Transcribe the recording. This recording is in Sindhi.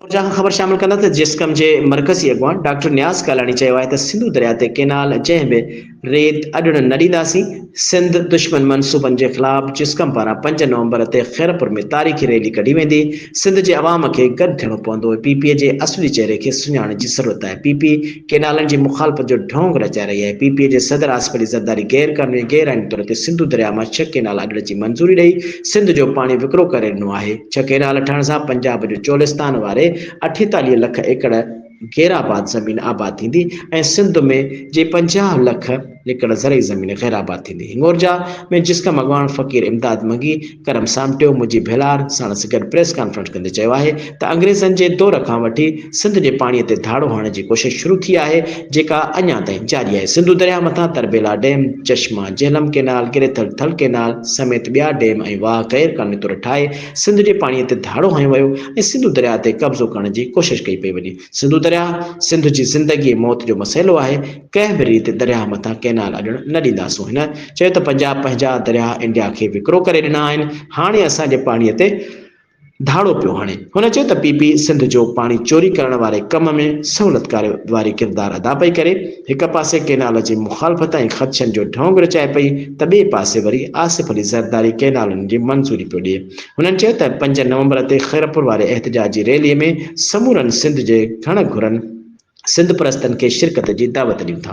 اونجا اهم خبر شامل ڪندا ته جيسقم جي مرڪزي اڳواڻ ڊاڪٽر نياز ڪالاڻي چيو آهي ته سنڌو درياء تي ڪينال جنهن به ريت اڏڻ نه ڏينداسين، سنڌ دشمن منصوبن جي خلاف جيسقم پاران پنج نومبر تي خيرپور ۾ تاريخي ريلي ڪڍي ويندي، سنڌ جي عوام کي گڏ ٿيڻو پوندو، پي پي جي اصلي چهري کي سڃاڻڻ جي ضرورت آهي، پي پي. ڪينالن جي مخالفت جو ڍونگ رچائي رهي آهي، پي پي اي جي صدر آصف علي زرداري غير قانوني ۽ غير آئيني طور تي سنڌو درياء مان ڇهه ڪينال اڏڻ جي منظوري ڏئي سنڌ جو پاڻي وڪرو ڪري ڏنو آهي، ڇهه ڪينال ٺهڻ سان پنجاب جو چولستان واري اٺيتاليهه لک ايڪڙ غيرآباد زمين آباد ٿيندي ۽ سنڌ ۾ جي پنجاهه لک ايڪڙ زرعي زمين غيرآباد ٿيندي، هنڱورجا ۾ جسقم اڳواڻ فقير امداد منگي، ڪرم سامٽيو منهنجي ڀيلار ساڻس گڏ پريس ڪانفرنس ڪندي چيو آهي ته انگريزن جي دور کان وٺي سنڌ جي پاڻي تي ڌاڙو هڻڻ جي ڪوشش شروع ٿي آهي جيڪا اڃا تائين جاري آهي سنڌو درياهه مٿان Tarbela dam, Chashma Jhelum canal, greater Thal canal سميت ٻيا ڊيم ۽ واهه غير قانوني طور ٺاهي سنڌ جي پاڻي تي ڌاڙو هنيو ويو ۽ سنڌو درياهه تي قبضو ڪرڻ جي ڪوشش ڪئي پئي وڃي. سنڌو درياهه سنڌ جي زندگي ۽ موت جو مسئلو آهي، ڪنهن به ريت درياهه مٿان ڪئنال اڏڻ نه ڏينداسون هن چيو ته پنجاب پنهنجا درياهه انڊيا کي وڪرو ڪري ڏنا آهن، هاڻي اسان جي پاڻي تي ڌاڙو پيو هڻي، هن چيو ته پي پي سنڌ جو پاڻي چوري ڪرڻ واري ڪم ۾ سهولتڪاري واري ڪردار ادا پئي ڪري، هڪ پاسي ڪئنال جي مخالفت ۽ خدشن جو ڍونگ رچائي پئي ته ٻئي پاسي وري آصف علي زرداري ڪئنالن جي منظوري پيو ڏئي، هنن چيو ته پنج نومبر تي خيرپور واري احتجاجي ريلي ۾ سمورن سنڌ جي گهڻ گهرن سنڌپرستن کي شرڪت جي دعوت ڏيون ٿا.